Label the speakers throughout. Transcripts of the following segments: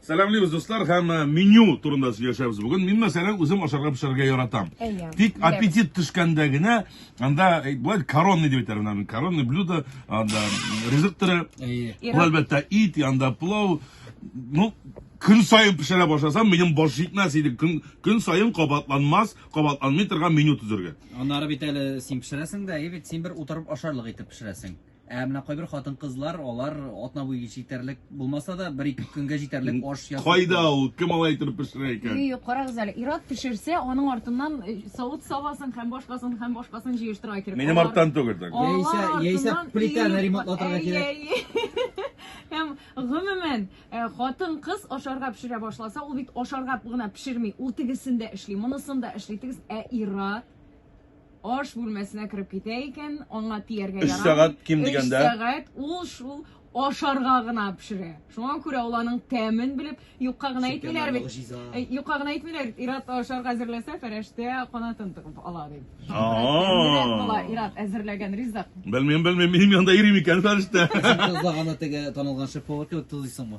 Speaker 1: Сәламлибез, дуслар, һәм э, меню турында сөйләшәбез бүген. Мин, мәсәлән, үзем ашарга пешерергә яратам. Әйе, Тик беләбез. аппетит төшкәндә генә анда э, болай коронный дип әйтәләр аны. Коронный блюдо, анда ризык төре, Әйе. Иран- бу әлбәттә ит, янда плов. Ну, көн саен пешерә башласам, минем баш җитмәс иде. Көн, көн саен кабатланмас, кабатланмый торган меню төзергә. Аннары бит әле
Speaker 2: син пешерәсең дә, әйе бит, син бер утырып ашарлык итеп пешерәсең. Ә менә кайбер хатын-кызлар, алар атна буе җитәрлек булмаса да, бер-ике көнгә җитәрлек аш ясый. Кайда ул? Кем алай итеп
Speaker 1: пешерә икән? Юк, карагыз әле, ир-ат
Speaker 3: пешерсә, аның артыннан э, савыт-сабасын һәм башкасын һәм башкасын җыештырырга кирәк. Минем Алар- арттан түгел так. алар
Speaker 1: Яисә- яисә артыннан
Speaker 2: плитәне ир- ремонтлатырга кирәк. Әйе,
Speaker 3: әйе. Һәм гомумән, э, хатын-кыз ашарга пешерә башласа, ул бит ашарга гына пешерми, ул тегесен дә эшли, монысын да эшли, тегесен. Ә ир-ат Аш бүлмәсенә кереп китә икән, аңа тияргә ярамый. Өч сәгать ким
Speaker 1: дигәндә. Өч сәгать ул
Speaker 3: шул ашарга гына пешерә. Шуңа күрә ул аның тәмен белеп, юкка гына әйтмиләр бит. Э, юкка гына әйтмиләр, Ират ашарга әзерләсә, фәрештә канатын тыгып ала дип. Бала Ират әзерләгән ризык. Белмим, белмим, минем
Speaker 1: янда ирим икән фәрештә. Тозлаганы теге
Speaker 2: танылган шеф повар кебек тозыйсыңмы?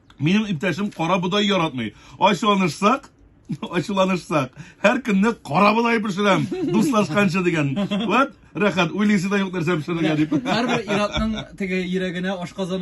Speaker 1: Минем иптәшем кара бодай яратмый. Ачуланышсак, ачуланышсак, һәр көнне кара бодай пешерәм, дуслашканчы дигән. Вот, рәхәт,
Speaker 2: уйлыйсы да
Speaker 1: юк нәрсә пешерергә дип. Һәрбер
Speaker 2: ир-атның теге
Speaker 1: йөрәгенә ашказаны